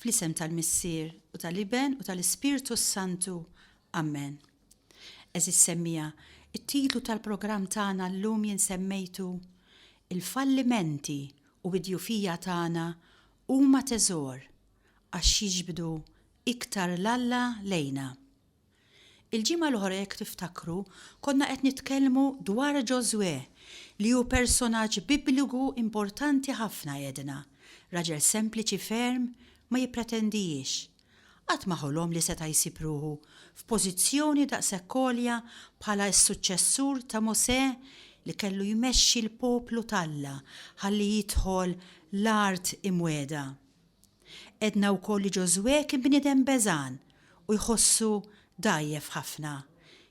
Fl-isem tal-Missier, u tal-Iben, u tal-Ispirtu s-Santu. Amen. Għeżież semmiegħa, it-titlu tal-programm tagħna llum jien semmejtu, Il-fallimenti u d-djufija tagħna huma teżor għax jiġbdu iktar 'l Alla lejna. Il-ġimgħa l-oħra jekk tiftakru konna qed nitkellmu dwar Ġożwè li hu personaġġ bibliku importanti ħafna għedna, raġel sempliċi ferm, ma jippretendijiex. Qatt ma ħolom li seta' jsib ruħu f'pożizzjoni daqshekk għolja bħala s-suċċessur ta' Mosè li kellu jmexxi l-poplu t'Alla ħalli jidħol l-Art Imwiegħda. Għedna wkoll li Ġożwè kien bniedem beżgħan u jħossu dgħajjef ħafna,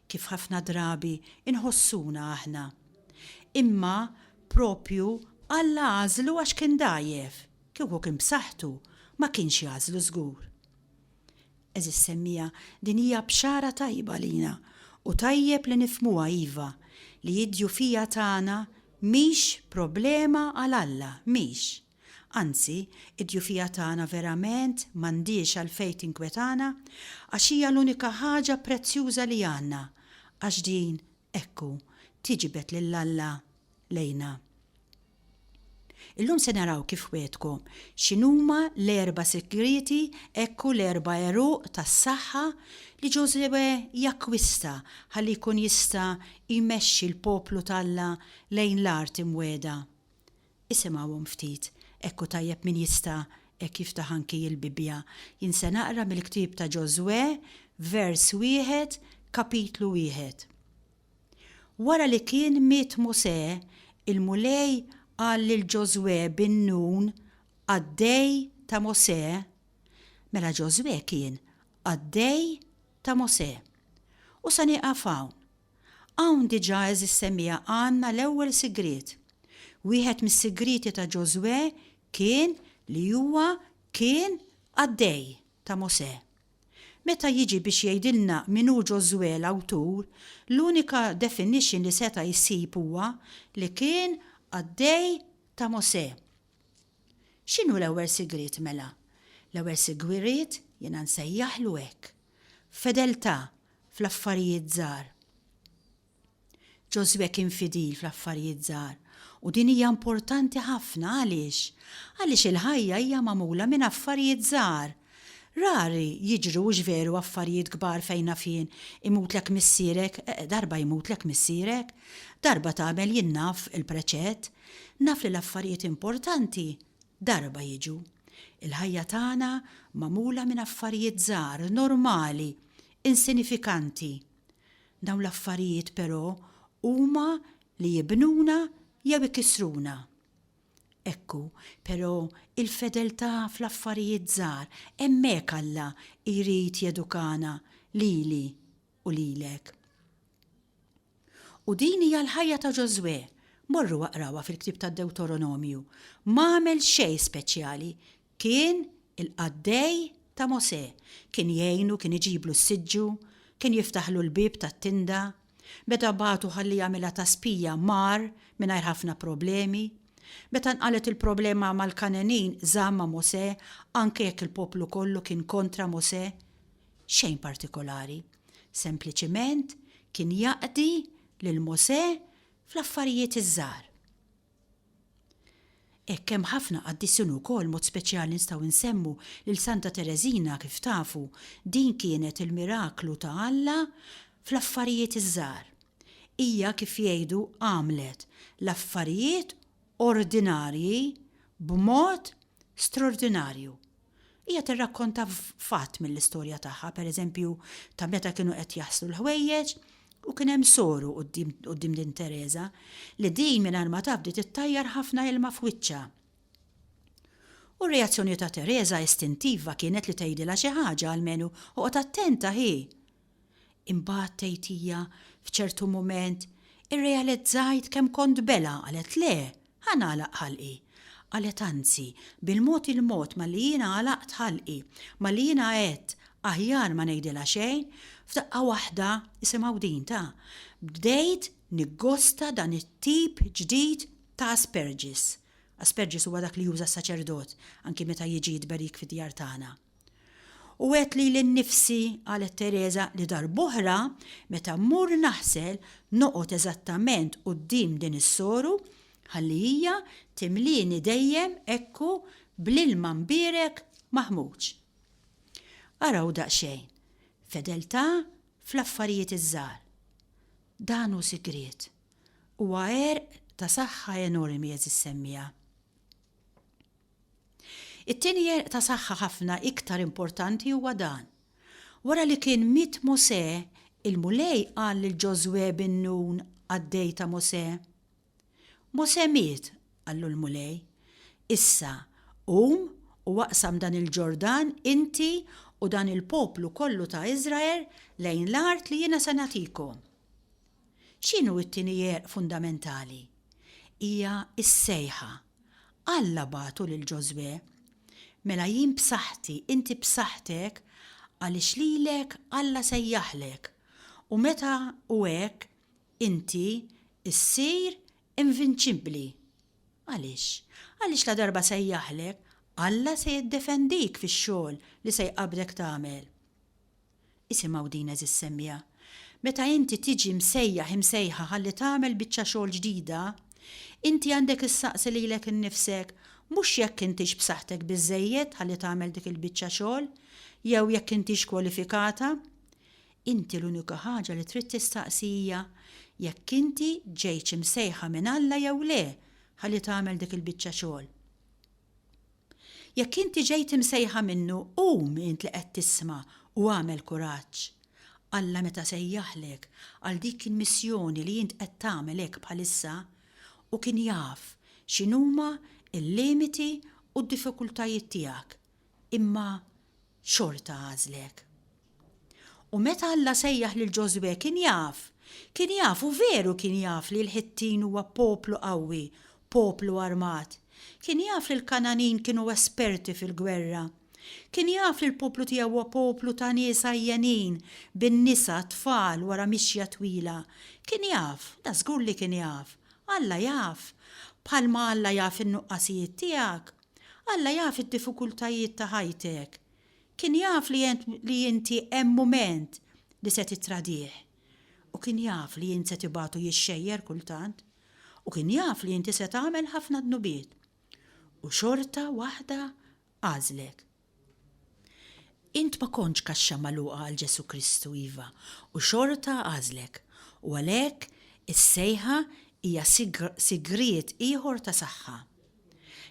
kif ħafna drabi nħossuna aħna. Imma proprju Alla għażlu għax kien dgħajjef, kieku kien b'saħħtu, ma kienx jagħżlu żgur. Għeżież semmiegħa, din hija bxara tajba għalina u tajjeb li nifhmuha iva, li d-djufija tagħna mhix problema għal Alla, mhix. Anzi, id-djufija tagħna verament m'għandhiex għalfejn tinkwetana, għax hija l-unika ħaġa prezzjuża li għandna, għax din, ekku, tiġbed lil Alla lejna. Illum se naraw kif wegħdkom x'inhuma l-erba' sigrieti, ekku l-erba' għeruq tas-saħħa li Ġożwè jakkwista ħalli jkun jista' jmexxi l-poplu t'Alla lejn l-art imwegħda. Isimgħuhom ftit, hekk hu tajjeb min jista' hekk jiftaħ anki il-Bibbja. Jien se naqra mill-ktieb ta' Ġożwè, vers wieħed, kapitlu wieħed. Wara li kien miet Mosè, il-Mulej qal lil Ġożwè bin Nun, qaddej ta' Mosè, mela Ġożwè kien qaddej ta' Mosè. U se nieqaf hawn, Hawn diġà għeżież semmiegħa għandna l-ewwel sigriet. Wieħed mis-sigrieti ta' Ġożwè kien li huwa kien qaddej ta' Mosè. Meta jiġi biex jgħidilna min hu Ġożwè l-awtur, l-unika definition li seta' jsib huwa li kien qaddej ta' Mosè. X'inhu l-ewwel sigriet mela? L-ewwel sigriet jiena nsejjaħlu hekk. Fedeltà fl-affarijiet żgħar. Ġożwè kien fidil fl-affarijiet żgħar, u din hija importanti ħafna. Għaliex? Għaliex il-ħajja hija magħmula minn affarijiet żgħar. Rari jiġru hux veru affarijiet kbar fejn naf jien, imutlek missierek, darba jmutlek missierek, darba tagħmel jien naf il-preċett. Naf li l-affarijiet importanti darba jiġu. Il-ħajja tagħna magħmula minn affarijiet żgħar, normali. insinifikanti. Dawn l-affarijiet però huma li jibnuna jew ikissruna. Ekku, però, il-fedeltà fl-affarijiet żgħar, hemmhekk Alla jrid jedukana lili u lilek. U din hija l-ħajja ta' Ġożwè. Morru aqrawha fil-ktieb tad-Dewtoronomju. M'għamel xejn speċjali, Kien il-qaddej ta' Mosè. Kien jgħinu, kien iġiblu s-siġġu, kien jiftaħlu l-bieb tat-tinda. Meta bagħtu ħalli jagħmilha ta' spija, mar mingħajr ħafna problemi. Meta nqalgħet il-problema mal-Kangħenin, żamm ma' Mosè, anke jekk il-poplu kollu kien kontra Mosè. Xejn partikolari. Sempliċiment kien jaqdi lil Mosè fl-affarijiet iż-żgħar. Hekk hemm ħafna qaddisin ukoll mod speċjali nistgħu nsemmu lil Santa Tereżina kif tafu din kienet il-miraklu ta' Alla fl-affarijiet iż-żgħar. Hija kif jgħidu għamlet l-affarijiet ordinarji b'mod straordinarju. Hija tirrakkonta fatt mill-istorja tagħha, pereżempju, ta' meta kienu qed jaslu l-ħwejjeġ u kien hemm soru quddiem din Tereża li din mingħajr ma taf bdiet ittajjar ħafna ilma f'wiċċha. U r-reazzjoni ta' Tereża istintiva kienet li tgħidilha xi ħaġa almenu oqgħod attenta hi! Imbagħad, tgħid hija, f'ċertu mument, irrealizzajt kemm kont belha, qalet, Le, ħa nagħlaq ħalqi. Qalet, Anzi, bil-mod il-mod malli jiena għalaqt ħalqi, malli jiena għedt, Aħjar ma ngħidilha xejn, f'daqqa waħda, isimgħu din, ta, bdejt niggosta dan it-tip ġdid ta' asperġis. Asperġis huwa dak li juża s-saċerdot anki meta jiġi jitberik fid-djar tagħna. U għedt lili nnifsi, qalet Tereża, li darb'oħra, meta mmur naħsel, noqgħod eżattament quddiem din is-soru, ħalli hija timlieni dejjem hekku bl-ilma mbierek maħmuġ. Araw daqsxejn, fedeltà fl-affarijiet iż-żgħar. Dan hu sigriet. Huwa għerq ta' saħħa enormi, għeżiż semmiegħa. It-tieni għerq ta' saħħa ħafna iktar importanti huwa dan. Wara li kien miet Mosè, il-Mulej qal lil Ġożwè bin Nun, qaddej ta' Mosè. Mosè miet, qallu l-Mulej. Issa, qum u aqsam dan il-Ġordan inti u dan il-poplu kollu ta' Iżrael lejn l-art li jiena se nagħtikom. X'inhu t-tieni għerq fundamentali? Hija s-sejħa. Alla bagħtu lil Ġożwè, Mela jien b'saħħti, inti b'saħħtek, għaliex lilek Alla sejjaħlek, u meta hu hekk, inti ssir invinċibbli. Għaliex? Għaliex ladarba sejjaħlek, Alla se jiddefendik fix-xogħol li se jqabbdek tagħmel. Isimgħu din għeżież semmiegħa. Meta inti tiġi msejjaħ, imsejħa ħalli tagħmel biċċa xogħol ġdida, inti għandek issaqsi lilek innifsek mhux jekk intix b'saħħtek biżżejjed ħalli tagħmel dik il-biċċa xogħol jew jekk intix kwalifikata. Inti l-unika ħaġa li trid tistaqsi hija jekk inti ġejtx imsejħa minn Alla jew le ħalli tagħmel dik il-biċċa xogħol. Jekk inti ġejt imsejħa minnu, qum int li qed tisma' u agħmel kuraġġ. Alla meta sejjaħlek għal dik il-missjoni li int qed tagħmel hekk bħalissa, hu kien jaf x'inhuma l-limiti u d-diffikultajiet tiegħek, imma xorta għażlek. U meta Alla sejjaħ lil Ġożwè kien jaf, kien jaf u veru kien jaf li l-Ħittin huwa poplu qawwi, poplu armat. Kien jaf li l-Kangħanin kienu esperti fil-gwerra. Kien jaf li l-poplu tiegħu huwa poplu ta' nies għajjenin, bin-nisa, t-tfal, wara mixja twila. Kien jaf, da żgur li kien jaf. Alla jaf. Bħalma Alla jaf in-nuqqasijiet tiegħek. Alla jaf id-diffikultajiet ta' ħajtek. Kien jaf li int li inti hemm mument li se tittradih. U kien jaf li int se tibgħatu jixxejjer kultant. U kien jaf li inti se tagħmel ħafna dnubiet. U xorta waħda għażlek. Int ma kontx kaxxa magħluqa għal Ġesù Kristu, iva, u xorta għażlek. U għalhekk is-sejħa hija sigriet ieħor ta' saħħa.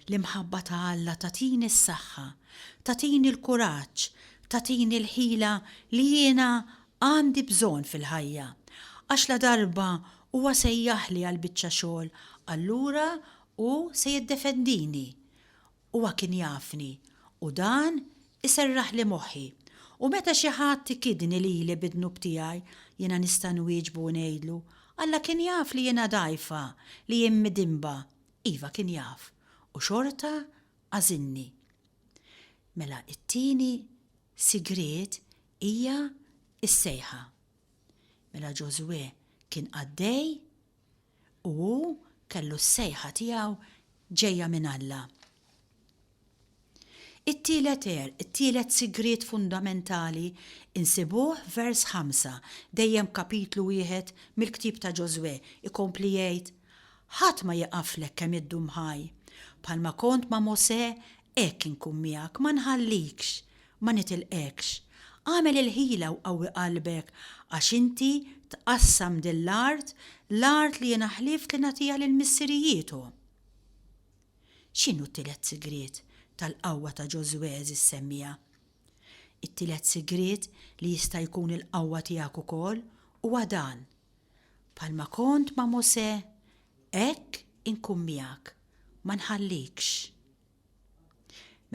L-imħabba ta' Alla tagħtini s-saħħa, tagħtini l-kuraġġ, tagħtini l-ħila li jiena għandi bżonn fil-ħajja. Għax ladarba Huwa sejjaħli għal biċċa xogħol, allura Hu se jiddefendini. Huwa kien jafni, u dan iserraħli moħħi. U meta xi ħadd ikidni lili bid-dnub tiegħi, jiena nista' nwieġbu u ngħidlu, Alla kien jaf li jiena dgħajfa, li jien midinba, Iva kien jaf u xorta għażilni. Mela it-tieni sigriet hija s-sejħa. Mela Ġożwè kien qaddej u hu kellu s-sejħa tiegħu ġejja minn Alla. It-tielet għerq, it-tielet sigriet fundamentali nsibuh f'vers ħamsa, dejjem f'kapitlu wieħed mill-ktieb ta' Ġożwè, ikompli jgħid, Ħadd ma jieqaflek kemm iddum ħaj. Bħalma kont ma' Mosè, hekk inkun miegħek, ma nħallikx, ma nitilqekx. Agħmel il-ħila u qawwi qalbek għax inti tqassam din l-art, l-art li jiena ħlift li nagħtiha lil missirijiethom. X'inhu t-tielet sigriet tal-qawwa ta' Ġożwè għeżież semmiegħa? It-tielet sigriet li jista' jkun il-qawwa tiegħek ukoll huwa dan, Bħalma kont ma' Mosè, hekk inkun miegħek, ma nħallikx.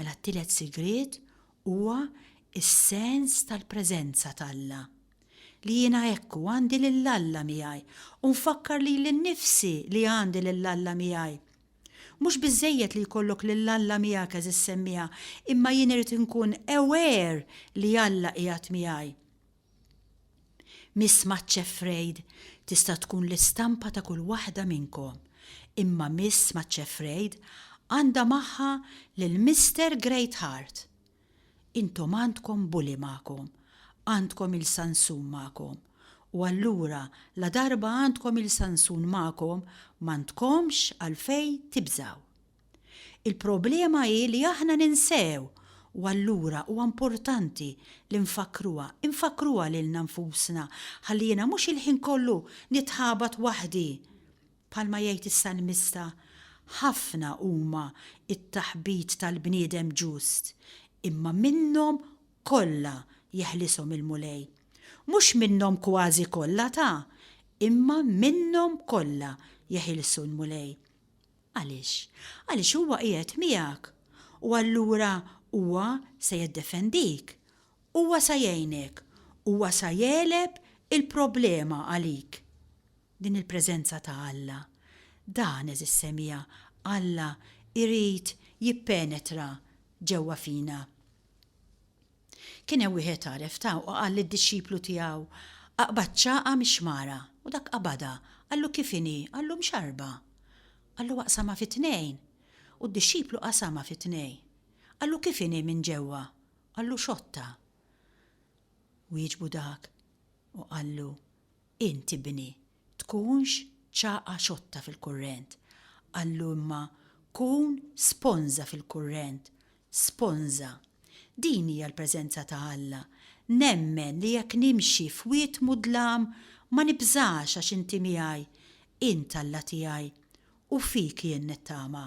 Mela t-tielet sigriet huwa s-sens tal-preżenza t'Alla, li jiena ekku għandi lil Alla miegħi u nfakkar lili nnifsi li għandi lil Alla miegħi Mhux biżżejjed li jkollok lil Alla miegħek għeżiż semmiegħa, imma jien irid inkun aware li Alla qiegħed miegħi. Miss Maċċ Afraid tista' tkun l-istampa ta' kull waħda minnkom, imma Miss Maċċ Afraid għandha magħha lil Mister Greatheart. Intom għandkom bully magħkom, għandkom il-sansun magħkom, u allura ladarba għandkom il-sansun magħkom m'għandkomx għalfejn tibżgħu. Il-problema hi li aħna ninsew u allura huwa importanti li nfakkruha, infakkruha lilna nfusna ħalli jiena mhux il-ħin kollu nitħabat waħdi Bħalma jgħid is-salmista, Ħafna huma t-taħbit tal-bniedem ġust, imma minnhom kollha jeħlishom il-Mulej. Mhux minnhom kważi kollha ta, imma minnhom kollha jeħilsu l-Mulej. Għaliex? Għaliex huwa qiegħed miegħek, u allura huwa se jiddefendik. Huwa sa jgħinek. Huwa sa jegħleb il-problema għalik. Din il-preżenza ta' Alla, dan, għeżież semija, Alla jrid jippenetra ġewwa fina. Kien hemm wieħed għaref ta' u qal lid-dixxiplu tiegħu, Aqbad ċagħqa mix-xmara. U dak qabadha. Qallu, Kif inhi? Qallu, Mxarrba. Qallu, Aqsamha fi tnejn. U d-dixxiplu qasamha fi tnejn. Qallu, Kif inhi minn ġewwa? Qallu, Xotta. Wieġbu dak u qallu, Int, ibni, tkunx ċagħqa xotta fil-kurrent, qallu imma kun sponża fil-kurrent, sponża. Din hija l-preżenza ta' Alla. Nemmen li jekk nimxi f'wied mudlam ma nibżax għax inti miegħi, int Alla tiegħi, u fik jien nittama.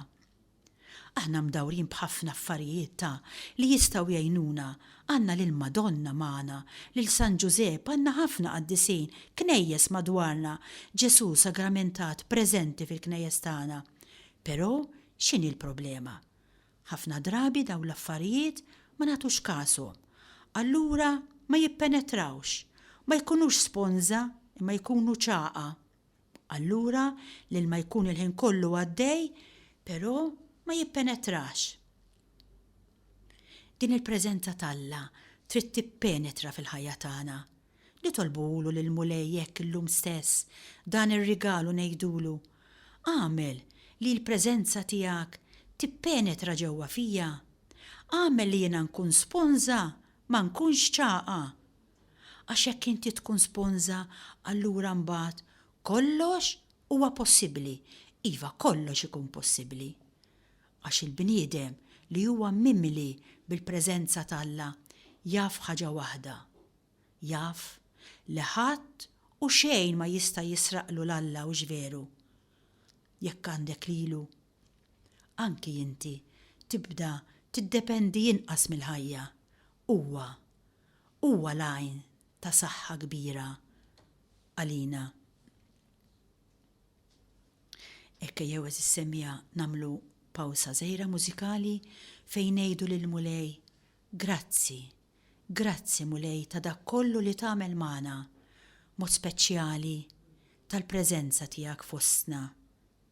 Aħna mdawrin b'ħafna affarijiet ta' li jistgħu jgħinuna, għandna lil Madonna magħna, lil San Ġużepp, għandna ħafna qaddisin, knejjes madwarna, Ġesù sagramentat preżenti fil-knejjes tagħna. Però x'inhi l-problema? Ħafna drabi dawn l-affarijiet ma nagħtux kashom. Allura ma jippenetrawx. Ma jkunux sponża imma jkunu ċagħa. Allura l-ilma jkun il-ħin kollu għaddej, però ma jippenetrax. Din il-preżenza t'Alla trid tippenetra fil-ħajja tagħna. Nitolbuhulu lill-Mulej hekk illum stess, dan ir-rigal u ngħidulu, Agħmel li l-preżenza tiegħek tippenetra ġewwa fija. Agħmel li jiena nkun sponża, ma nkunx ċagħqa. Għax jekk inti tkun sponża allura mbagħad kollox huwa possibbli. Iva, kollox ikun possibbli. Għax il-bniedem li huwa mimli bil-preżenza t'Alla jaf ħaġa waħda, jaf li ħadd u xejn ma jista' jisraqlu 'l Alla, hux veru? Jekk għandek lilu, anki inti tibda tiddependi inqas mill-ħajja. Huwa huwa l-għajn ta' saħħa kbira għalina. Hekk ejjew għeżież semmiegħa nagħmlu pawsa żgħira mużikali fejn ngħidu lill-Mulej, Grazzi, grazzi Mulej ta' dak kollu li tagħmel magħna, mod speċjali tal-preżenza tiegħek fostna.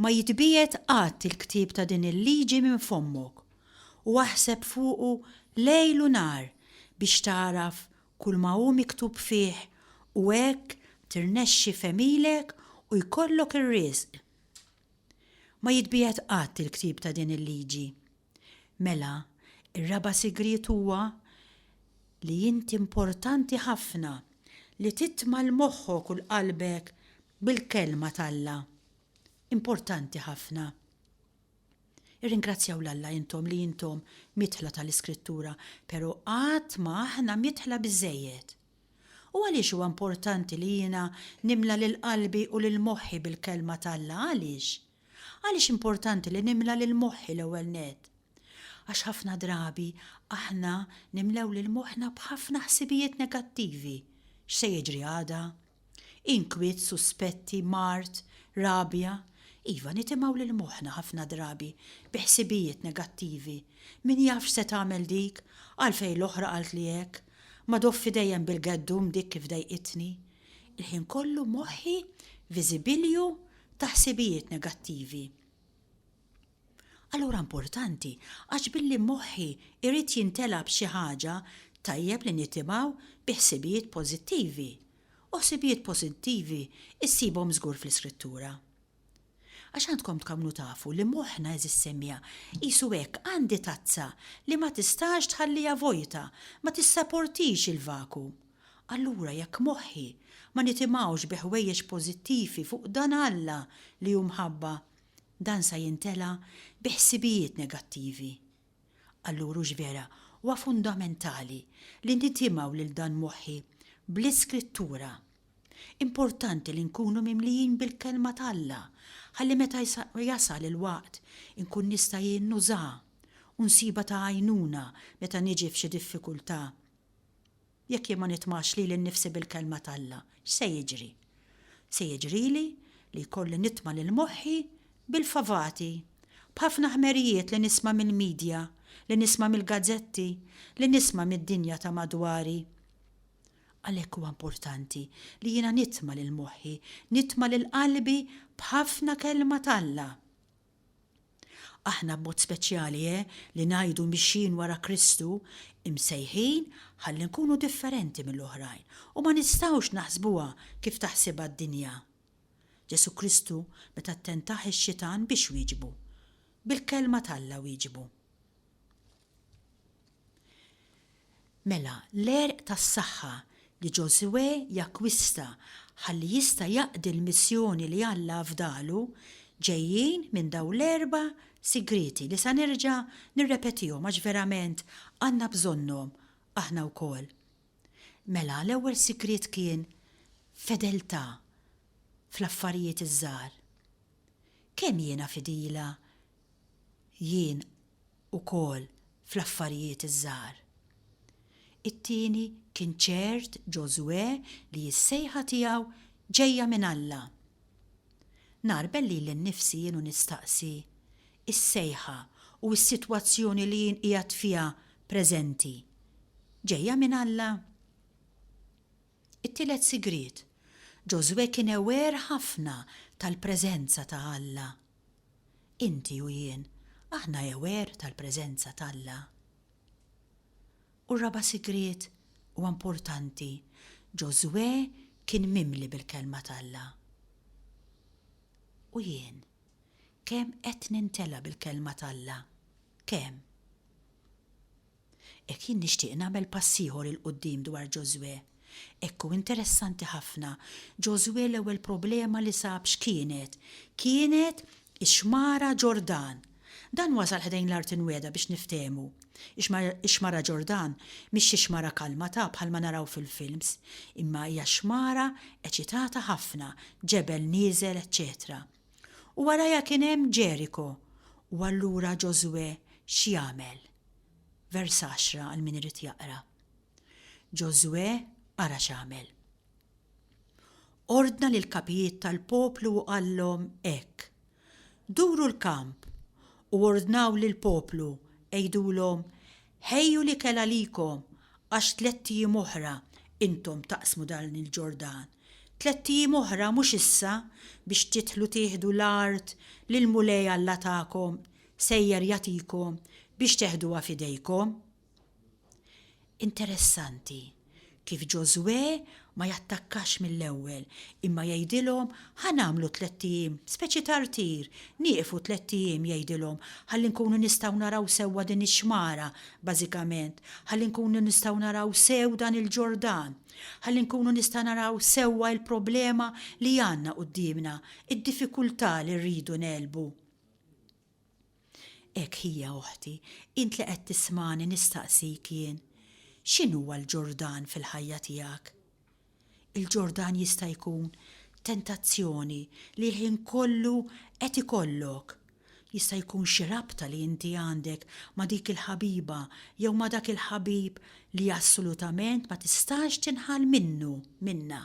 Ma jitbiegħed qatt il-ktieb ta' din il-liġi minn fommok, u aħseb fuqu lejl u nhar biex tagħraf kulma hu miktub fih u hekk tirnexxi f'għemilek u jkollok ir-riżq. Ma jitbiegħed qatt il-ktieb ta' din il-liġi. Mela, ir-raba' sigriet huwa li int importanti ħafna li titma' 'l moħħok u 'l qalbek bil-Kelma t'Alla. Importanti ħafna. Irringrazzjaw 'l Alla intom li intom miedħla ta' l-Iskrittura, pero' qatt ma aħna miedħla biżżejjed. U għaliex huwa importanti li jiena nimla lil qalbi u lil moħħi bil-Kelma t'Alla, għaliex? Għaliex importanti li nimla lil moħħi l-ewwel nett? Għax ħafna drabi aħna nimlew lil moħħna b'ħafna ħsibijiet negattivi, x'se jiġri għada? Inkwiet, suspetti, mard, rabja. Iva, nitimgħu lil moħħna ħafna drabi bi ħsibijiet negattivi, min jaf x'se tagħmel dik, għalfejn l-oħra qaltli hekk, ma doffi dejjem bil-geddum dik kif dejqitni. Il-ħin kollu moħħi viżibilju ta' ħsibijiet negattivi. Allura importanti, għax billi moħħi irrit jintela b'xi ħaġa, tajjeb li nitimaw bi ħsibijiet pożittivi. U ħsibijiet pożittivi issibhom żgur fl-Iskrittura. Għax għandkom tkamnu tafu li moħħna eżis semija, qisu hekk għandi tazza li ma tistax tħallija vojta, ma tissaportix il-vaku. Allura jekk moħħi ma nitimgħux bi ħwejjeġ pożittivi fuq dan Alla li hu mħabba, dan sa jintela' bi ħsibijiet negattivi. Allura hux vera huwa fundamentali li nitimgħu lil dan moħħi bl-Iskrittura? Importanti li nkunu mimlijin bil-Kelma t'Alla ħalli meta jasal il-waqt inkun nista' jien nużaha u nsibha ta' għajnuna meta niġi f'xi diffikultà. Jekk jien ma nitmax lili nnifsi bil-Kelma t'Alla, x'se jiġri? Se jiġrili li jkolli nitma' lil moħħi bil-favati, b'ħafna ħmerijiet li nisma' mill-midja, li nisma' mill-gazzetti, li nisma' mid-dinja ta' madwari. Għalhekk huwa importanti li jiena nitma' lil moħħi, nitma' lil qalbi b'ħafna Kelma t'Alla. Aħna b'mod speċjali eh li ngħidu mixjin wara Kristu, imsejħin ħalli nkunu differenti mill-oħrajn u ma nistgħux naħsbuha kif taħsibha d-dinja. Ġesù Kristu meta ttentah ix-Xitan biex wieġbu? Bil-Kelma t'Alla wieġbu. Mela, l-għerq tas-saħħa li Ġożwè jakkwista ħalli jista' jaqdi l-missjoni li Alla afdalu ġejjin minn dawn l-erba' sigrieti li sa nerġa' nirrepetihom għax verament għandna bżonnhom aħna wkoll. Mela, l-ewwel sigriet kien fedeltà fl-affarijiet iż-żgħar. Kemm jiena fidila Jien ukoll fl-affarijiet iż-żgħar. It-tieni kien ċert Ġożwè li s-sejħa tiegħu ġejja minn Alla. Ngħarbel lili nnifsi jien u nistaqsi, Is-sejħa u s-sitwazzjoni li jien qiegħed fiha preżenti, ġejja minn Alla? It-tielet sigriet, Ġożwè kien aware ħafna tal-preżenza ta' Alla. Inti u jien, aħna aware tal-preżenza t'Alla? U r-raba' sigriet, u importanti, Ġożwè kien mimli bil-Kelma t'Alla. U jien, kemm qed nintela' bil-Kelma t'Alla? Kemm? Hekk jien nixtieq nagħmel pass ieħor 'il quddiem dwar Ġożwè. Hekk hu interessanti ħafna, Ġożwè l-ewwel problema li sab x'kienet? Kienet ix-Xmara Ġordan. Dan wasal ħdejn l-Art Imwiegħda biex niftehmu. Ix-Xmara Ġordan mhix xi xmara kalmata bħalma naraw fil-films, imma hija xmara eċitata ħafna, ġebel nieżel eċċetera. U warajha kien hemm Ġeriko. U allura Ġożwè x'jagħmel? Vers 10 għal min irid jaqra. Ġożwè ara x'għamel. Ordna lill-kapijiet tal-poplu u qallhom hekk, Duru l-kamp u ordnaw lill-poplu, għidulhom, 'Ħejju l-ikel għalikom għax tlett ijiem oħra intom taqsmu dan il-Ġordan, tlett ijiem oħra mhux issa biex tidħlu tieħdu l-art li l-Mulej Alla tagħkom Sejjer jagħtikom biex teħduha f'idejkom. Interessanti kif Ġożwè ma jattakkax mill-ewwel imma jgħidilhom ħa nagħmlu tlett ijiem, speċi ta' rtir, nieqfu tlett ijiem jgħidilhom ħalli nkunu nistgħu naraw sewwa din ix-xmara, bażikament, ħalli nkunu nistgħu naraw sew dan il-Ġordan, ħalli nkunu nista' naraw sewwa l-problema li għandna quddiemna, id-diffikultà li rridu ngħelbu. Hekk hija, oħti, int li qed tismagħni nistaqsik jien, x'inhuwa l-Ġordan fil-ħajja tiegħek? Il-Ġordan jista' jkun tentazzjoni li l-ħin kollu qed ikollok, jista' jkun xi rabta li inti għandek ma' dik il-ħabiba jew ma' dak il-ħabib li assolutament ma tistax tinħall minnu, minnha.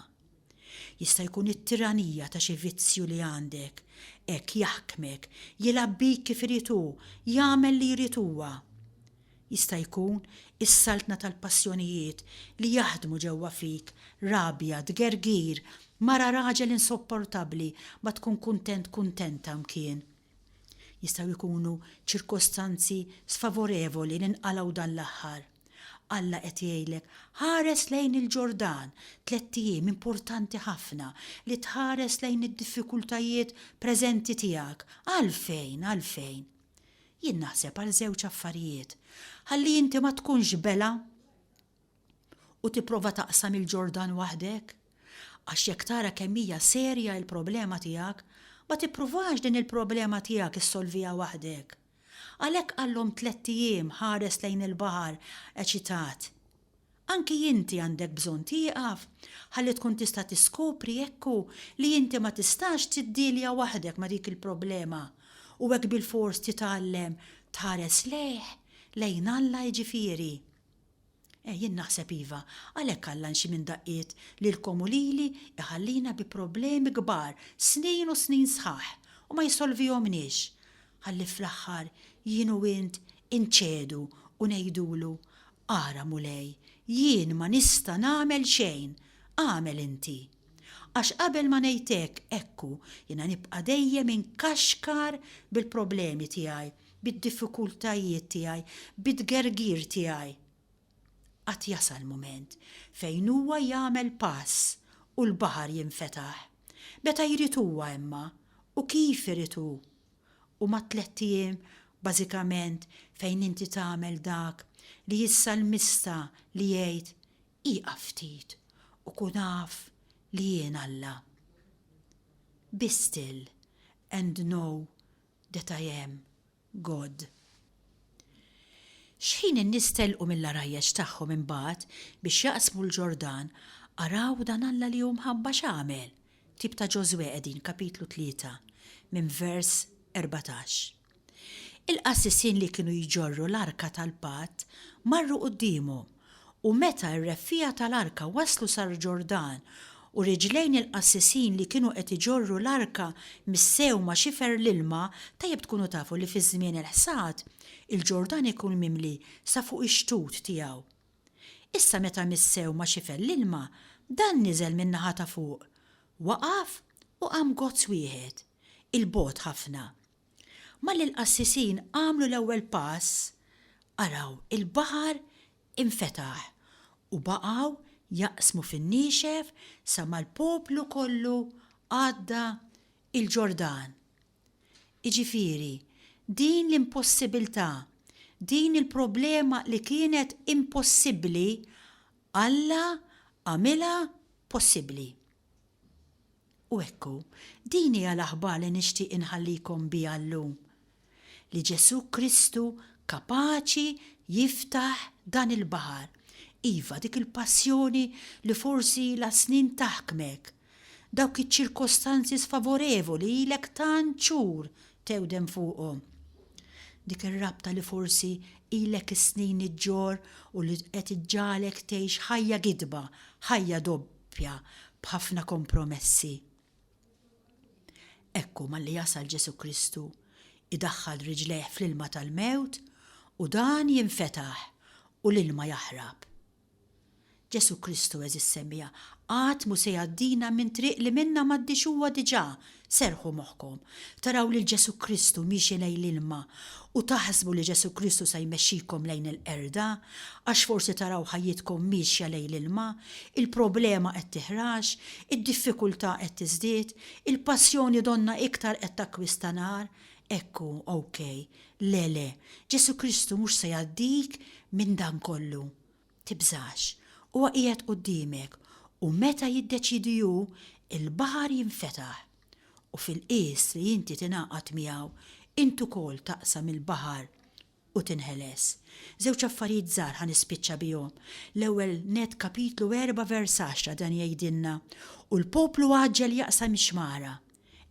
Jista' jkun it-tiranija ta' xi vizzju li għandek hekk jaħkmek, jilgħab bik kif irid hu, jagħmel li jrid huwa. Jista' jkun is-saltna tal-passjonijiet li jaħdmu ġewwa fik, rabja, tgergir, mara raġel insopportabbli ma tkun kuntent kuntenta mkien. Jistgħu jkunu ċirkostanzi sfavorevoli li nqalgħu dan l-aħħar. Alla qed jgħidlek, ħares lejn il-Ġordan, tlett ijiem importanti ħafna li tħares lejn id-diffikultajiet preżenti tiegħek. Għalfejn? Għalfejn? Jien naħseb għal żewġ affarijiet. Ħalli inti ma tkunx bela u tipprova taqsam il-Ġordan waħdek, għax jekk tara kemm hija serja il-problema tiegħek, ma tippruvax din il-problema tiegħek issolviha waħdek. Għalhekk għallhom tlett ijiem ħares lejn il-baħar eċitat. Anki inti għandek bżonn tieqaf ħalli tkun tista' tiskopri jekk hu li inti ma tistax tiddielja waħdek ma' dik il-problema u hekk bilfors titgħallem tħares lejh, lejn Alla jiġifieri. Eh, jien naħseb iva, għalhekk Alla nxi minn daqqiet lilkom u lili jħallina bi problemi kbar snin u snin sħaħ u ma jsolvihomniex, ħalli fl-aħħar jien u int inċedu u ngħidulu, 'Ara Mulej, jien ma nista' nagħmel xejn, agħmel inti. Għax qabel ma ngħid hekk, ekku, jiena nibqa' dejjem inkaxkar bil-problemi tiegħi, bid-diffikultajiet tiegħi, bit-tgergir tiegħi, għad jasal mument fejn Huwa jagħmel pass u l-baħar jinfetaħ, meta jrid Huwa imma, u kif irid Hu. Huma tlett ijiem bażikament fejn inti tagħmel dak li s-salmista li jgħid, Ieqaf ftit u kun af li jien Alla. Be still and know that I am God. X'ħin in-nies telqu mill-għarajjeġ tagħhom imbagħad biex jaqsmu l-Ġordan, araw dan Alla li hu mħabba x'għamel, ktieb ta' Ġożwè qegħdin kapitlu tlieta minn vers erbatax. Il-qassisin li kienu jġorru l-arka tal-patt marru quddiemhom. U meta r-reffiegħa tal-arka waslu sal-Ġordan, u riġlejn il-qassisin li kienu qed iġorru l-arka missew ma' xifer l-ilma, tajjeb tkunu tafu li fiż-żmien il-ħsad, il-Ġordan ikun mimli sa fuq ix-xtut tiegħu. Issa meta missew ma' xifer l-ilma, dan niżel min-naħa ta' fuq, waqaf u qam gozz wieħed, 'il bogħod ħafna. Malli l-qassisin għamlu l-ewwel pass, araw il-baħar infetaħ u baqgħu jaqsmu fin-niexef sa ma l-poplu kollu għadda l-Ġordan. Jiġifieri, din l-impossibiltà, din il-problema li kienet impossibbli, Alla għamilha possibbli. U ekku, din hija l-aħbar li nixtieq inħallikom biha llum, li Ġesù Kristu kapaċi jiftaħ dan il-baħar, iva, dik il-passjoni li forsi ilha snin taħkmek, dawk iċ-ċirkostanzi sfavorevoli ilek tant xhur tewdem fuqhom, dik ir-rabta li forsi ilek is-snin iġġorr u li qed iġġagħlek tgħix ħajja gidba, ħajja ppja b'ħafna kompromessi. Ekku malli jasal Ġesu' Kristu, idaħħal riġlejh fl-ilma tal-mewt u dan jinfetaħ u l-ilma jaħrab. Ġesu' Kristu, għeżież semmiegħa, qatt mhu se jgħaddina minn triq li minnha m'għaddiex huwa diġà Serrħu moħħkom, taraw lil Ġesù Kristu miexi lejn l-ilma u taħsbu li Ġesù Kristu se jmexxikom lejn il-qerda, għax forsi taraw ħajjitkom miexja lejn l-ilma, il-problema qed tiħrax, id-diffikultà qed tiżdied, il-passjoni donnha iktar qed takkwista nar, hekk hu, OK. Le, le, Ġesù Kristu mhux se jgħaddik minn dan kollu. Tibżax, huwa qiegħed quddiemek, u meta jiddeċiedi hu, il-baħar jinfetaħ. U fil-qies li inti tingħaqad miegħu, int ukoll taqsam il-baħar u tinħeles. Żewġ affarijiet żgħar ħa nispiċċa bihom. L-ewwel nett Kapitlu erba' vers għaxra dan jgħidilna, U l-poplu għaġġel jaqsam ix-xmara.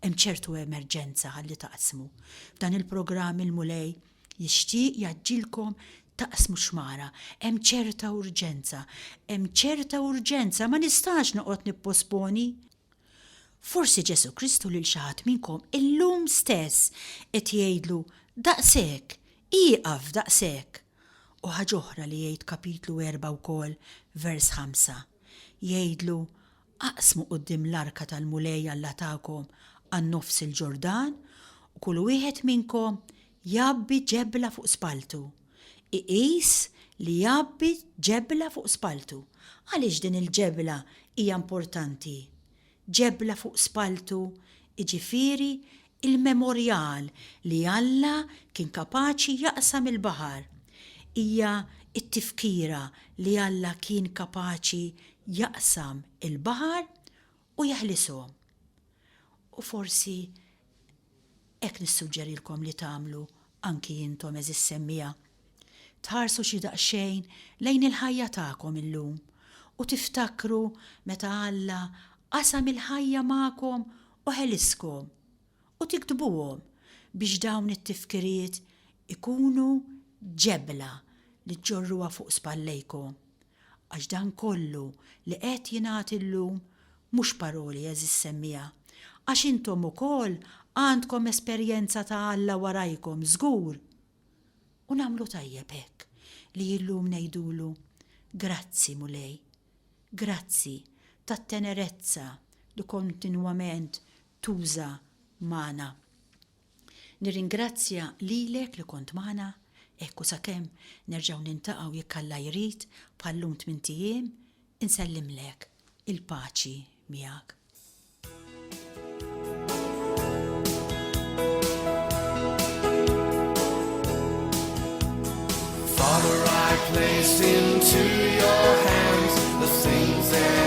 Hemm ċertu emerġenza ħalli taqsmu. F'dan il-programm il-Mulej jixtieq jgħaġġilkom taqsmu xmara. Hemm ċerta urġenza. Hemm ċerta urġenza, ma nistax noqgħod nipposponi. Forsi Ġesu Kristu lil xi ħadd minnkom illum stess qed jgħidlu daqshekk, ieqaf daqshekk. U ħaġa oħra li jgħid kapitlu erba' wkoll, vers ħamsa. Jgħidlu Aqsmu quddiem l-arka tal-Mulej Alla tagħkom għan-nofs il-Ġordan u kull wieħed minnkom jgħabbi ġebla fuq spalltu. Iqis li jgħabbi ġebla fuq spalltu. Għaliex din il-ġebla hija importanti? Ġebla fuq spalltu jiġifieri Il-memorjal li Alla kien kapaċi jaqsam il-baħar hija t-tifkira li Alla kien kapaċi jaqsam il-baħar u jeħlishom. U forsi hekk nissuġġerilkom li tagħmlu anki intom għeżież semmiegħa, tħarsu xi daqsxejn lejn il-ħajja tagħkom illum u tiftakru meta Alla qasam il-ħajja magħkom u ħeliskom, u tiktbuhom biex dawn it-tifkiriet ikunu ġebla li ġġorruha fuq spallejkom. Għax dan kollu li qed jingħad illum mhux paroli għeżież semmiegħa, għax intom ukoll għandkom esperjenza ta' Alla warajkom żgur! U nagħmlu tajjeb hekk li illum ngħidulu, Grazzi Mulej, grazzi tat-tenerezza li kontinwament tuża magħna. Nirringrazzja lilek li kont magħna, hekk u sakemm nerġgħu niltaqgħu jekk Alla jrid bħal lum tmint ijiem, insellimlek il-paċi miegħek. Father, I place into your hands the things that